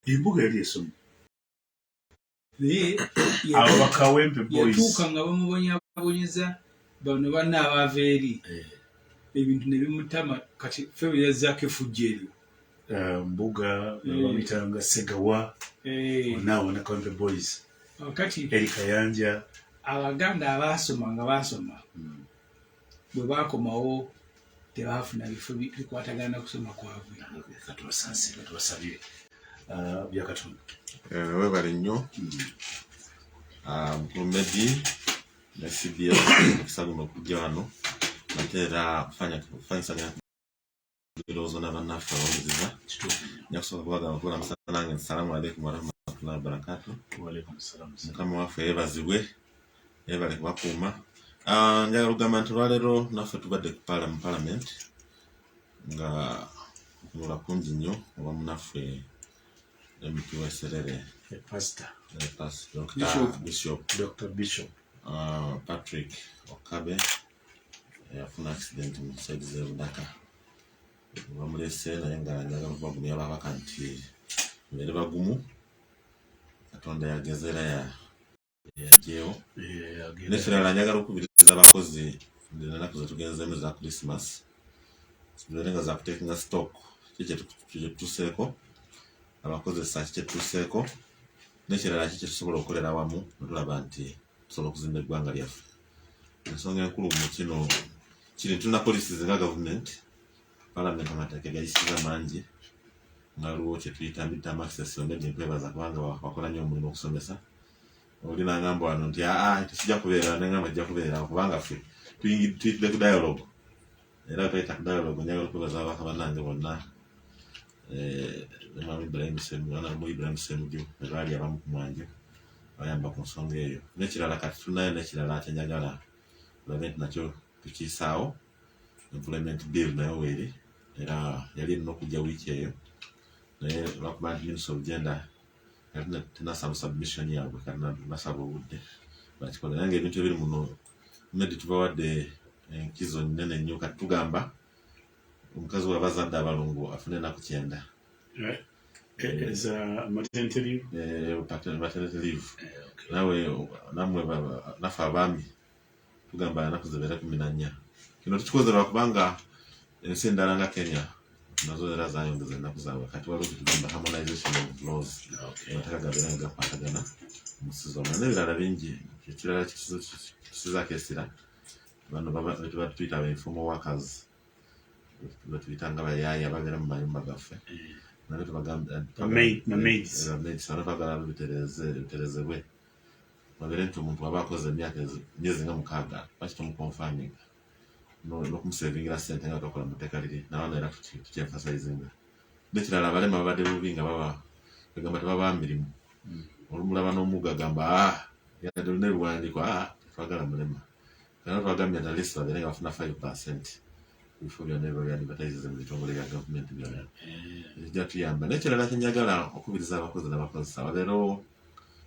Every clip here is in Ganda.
embuga yali esomye naye abo bakawempe boys yatuuka nga bamubonyabonyeza bano banna abaava eri Eh, ebintu ne bimutama kati ffe bwe yazzaako efujjo eryo eh, mbuga Eh. babitanga segawa Eh, onaawo na kawempe boys kati eri kayanja abaganda abaasoma nga baasoma Mm. bwe baakomawo tebaafuna bifo bikwatagana na kusoma kwabwe ah, byakatonda eh, webale nnyo medi hmm. ah, ne cbs okusalima okujja wano ate era fanyisanya ebirowoozo na bannaffe abawuliriza njakusooka kubagamba kuula musala nange nti salaamu aleikum warahmatullahi wabarakatu mukama waffe yebazibwe yebale kubakuuma ah, njagala okugamba nti olwaleero naffe tubadde ku mu palamenti nga okunula kungi nnyo oba munaffe mp weserere patrick okabe eyafuna accident mu saidi zebudaka bamulese naye nga njagala kubagumu yababaka nti mbere bagumu katonda yagezera ya yajewo nekirala njagala okubiriza abakozi enaku zetugenzeemu za christmas zibeere nga zakutekinga stock kikyetutuseeko abakozesa kikyetutuseeko nekirala ki kyetusobola okukolera wamu netulaba nti tusobola okuzimba eggwanga lyaffe ensonga enkulu mu kino kiri tulina poliisi zinga gavumenti palamenti amateeka gayisiza mangi nga waliwo kyetuyita midterm access onedde nkwebaza kubanga wakola nnyo omulimu okusomesa oli nangamba wano nti aa ah, ah, tekijja kubeera nengamba kijja kubeera kubanga ffe tuyitidde ku dialogue era gaita kudala ogunyaga okuba za baka banange bonna eh mama Ibrahim Semu ana mu Ibrahim Semu jo rali abamu kumwanje ayamba ku nsonga eyo nekirala kati tunayo nekirala atenyagala lament nakyo tukisawo employment bill nayo weri era yali no kujja wiki eyo naye lwakuba minister of gender tenasaba submission yabwe kanantu nasaba obudde bakikola nange ebintu ebiri muno medi tubawadde enkizo nene nnyo kati tugamba omukazi waba azadde abalongo afune enaku kyenda eh, eh, eh, nawe namwe naffe abaami tugamba anaku zibeere kumi na nnya kino tukikoze lwakubanga ensi endala nga kenya nazo era zayongeza ennaku zaabwe kati waliwo kyetugamba harmonization of laws amateeka gabeera nga gakwatagana mu sizona n'ebirala bingi ekirala kisizaako esira bano betuba tuyita ba informal workers betuyita nga bayaaya babeera mu mayumba gaffe mm. nabyo tubagambye bagala biterezebwe babere nti omuntu aba akoze emyaka myezi nga mukaaga lwaki tomukonfaminga nokumusevingira sente nga gakola muteeka liri nabaana era tukyenfasayizinga nekirala abalema babadde bubi nga baba egamba tebaba mirimu hmm. olumulaba nomuga gamba ah, yadde olina ebiwandiiko ah, twagala mulema era twagambye na list babeere nga bafuna 5 percent ebifo byonna biba byadivatayizize mu bitongole bya gavumenti byonna ekijja eh. tuyamba naye kirala kyenjagala okubiriza abakozi n'abakozesa babeerewo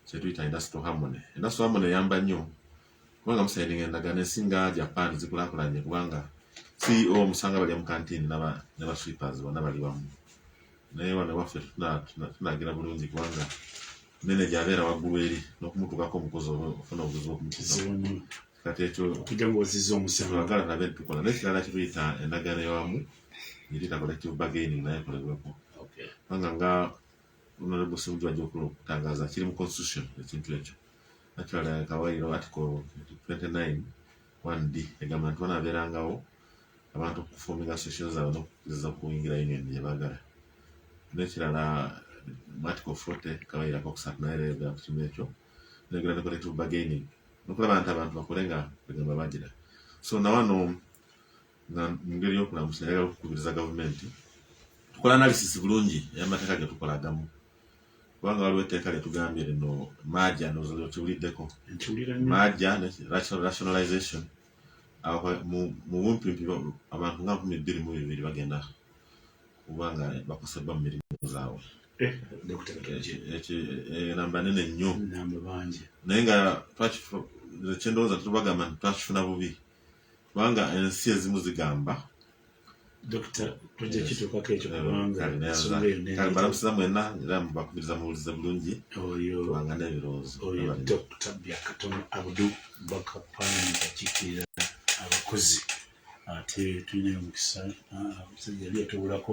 kyetuyita industrial harmony industrial harmony eyamba nnyo kubanga musaininga endagaano esinga japan zikulakulanye kubanga ceo omusanga balya mu kantiini ne ba sweepers bonna bali bamu naye wano waffe tunagira bulungi kubanga meneja abeera waggulu eri n'okumutuukako omukozi oba ofuna obuzibu okumukizamu kati ekyo twagala nabe tukola naye kirala kituyita endagaano eyawamu yitita collective bargaining naye ekolebweko kubanga nga honorable simuju ajja okula okutangaza kiri mu constitution ekintu ekyo actually kawairo article 29 one b egamba nti banabeerangawo abantu okufuminga session zaabwe nokukkiriza okuyingira union gyebagala nekirala article 40 kabayirako okusatu naye era eyogera ku kimu ekyo neyogera ne collective bargaining nokulaba nti abantu bakole nga egamba bagira so nawano nga mungeri yokulamusa yagala okukubiriza gavumenti tukola analysis bulungi eyamateeka getukola agamu kubanga waliwo etteeka lyetugambye lino maja nokiwuliddeko maja rationalization mu bumpimpi abantu nga nkumi bbiri mu bibiri bagenda kuba nga bakoseddwa mu mirimu zaabwe eh, enamba nene nnyo naye nga kyendowooza tetubagamba nti twakifuna bubi kubanga ensi ezimu zigamba balamusiza mwena era bakubiriza muwulize bulungi kubanga n'ebirowoozo abakozi ate tulina omukisa ah, yali yatubulako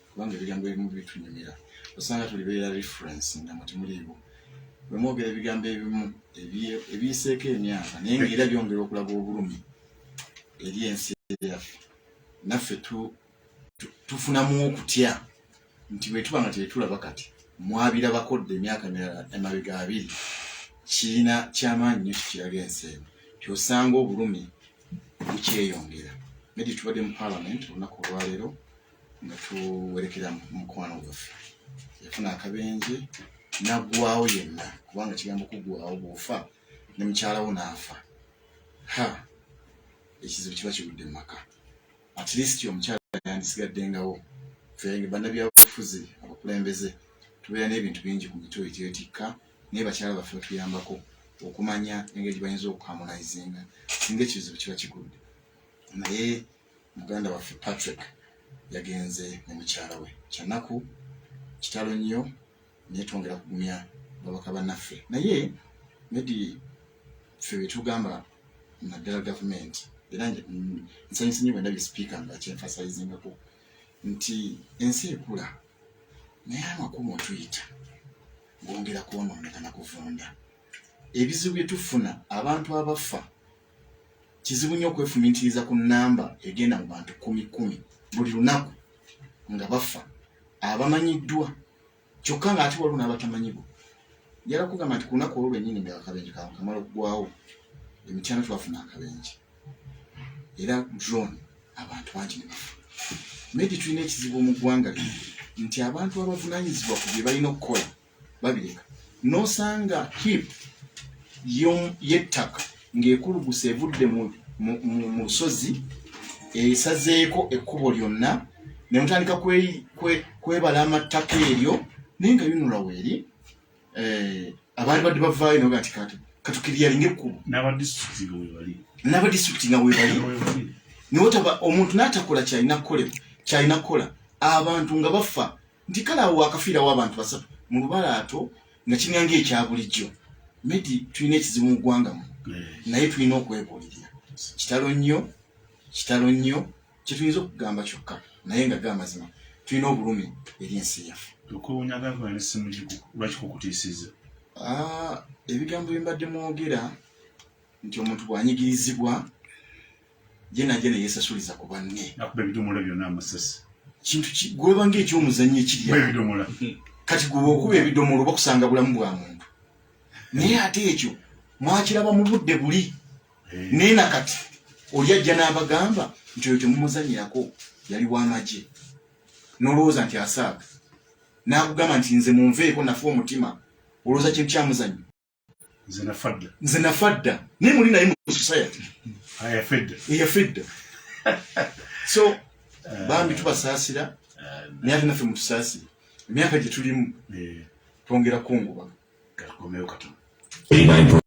kubanga ebigambo ebimu bitunyumira osanga tulibeera reference nga mutimuliiwo bwemwogera ebigambo ebimu ebiyiseeko emyaka naye nga era byongera okulaga obulumi eri ensi yaffe naffe tufunamu okutya nti bwetuba nga tetulaba kati mwabirabako dda emyaka mirala emabega abiri kirina kyamaanyi nyo kikiraga ensi eno tyosanga obulumi bukyeyongera nedi tubadde mu palamenti olunaku olwaleero nga tuwerekera mukwano gwaffe yafuna akabenje naggwawo yenna kubanga kigambo kuggwawo bwofa ne mukyalawo naafa ha ekizibu kiba kigudde mumaka at least omukyala yandisigaddengawo fenge bannabyabufuzi abakulembeze tubeera n'ebintu bingi ku mitwe ekyetikka naye bakyala baffe batuyambako okumanya engeri gye bayinza okukamunayizinga singa ekizibu kiba kigudde naye muganda waffe patrick yagenze ne mukyala we kyanaku kitalo nnyo naye twongera kugumya babaka banaffe naye medi ffe betugamba naddala gavumenti era nsanyusa nyo bwendabye sipiika nga kyenfasayizingako nti ensi ekula naye amakumu otuyita gongera kwonooneka na kuvunda ebizibu byetufuna abantu abafa kizibu nnyo okwefumitiriza ku namba egenda mu bantu kumi kumi buli lunaku nga bafa abamanyiddwa kyokka nga ate waliwo n'abatamanyibwa njala kugamba nti ku lunaku olwo lwennyini nga akabenje kawe kamala okugwawo emityana twafuna akabenje era drone abantu bangi ne bafa naye tetulina ekizibu mu ggwanga lino nti abantu abavunanyizibwa ku bye balina okukola babireka nosanga hip yettaka ng'ekuluguse evudde mu lusozi esazeeko ekkubo lyonna ne mutandika kwebala amattaka eryo naye nga yunula weeri eh, abaali badde bavaayo naga nti katukiriyalinga ekkubo n'abadisitulikiti nga webali niwotaba omuntu n'atakola kyalina kukolebwa kyalina kukola abantu nga bafa nti kale awo wakafiirawo abantu basatu mu lubalaato nga kiringa ngaekya bulijjo medi tulina ekizibu mu ggwanga mu naye tulina okwebuulirira kitalo nnyo kitalo nnyo kyetuyinza okugamba kyokka naye nga ge amazima tulina obulumi eri ensi yaffe ah, ebigambo bye mbadde mwogera nti omuntu bwanyigirizibwa jena jena yesasuliza ku banne nakuba ebidomola byonna amasasi kintu gweba ng'ekyomuzannyo ekirya ebidomola hmm. kati gweba okuba ebidomola oba kusanga bulamu bwa muntu naye ate ekyo mwakiraba mu budde buli eh. naye na kati oli ajja n'abagamba nti oyo temumuzanyirako yali w'amagye n'olowooza nti asaaga n'akugamba nti nze munveeko nafa omutima olowooza kintu kyamuzannyo nze nafadda nze nafadda naye muli naye mu society eyafedda ah, eyafedda so eh. bambi tubasaasira eh. naye ate naffe mutusaasire emyaka gye tulimu eh. twongera kunguba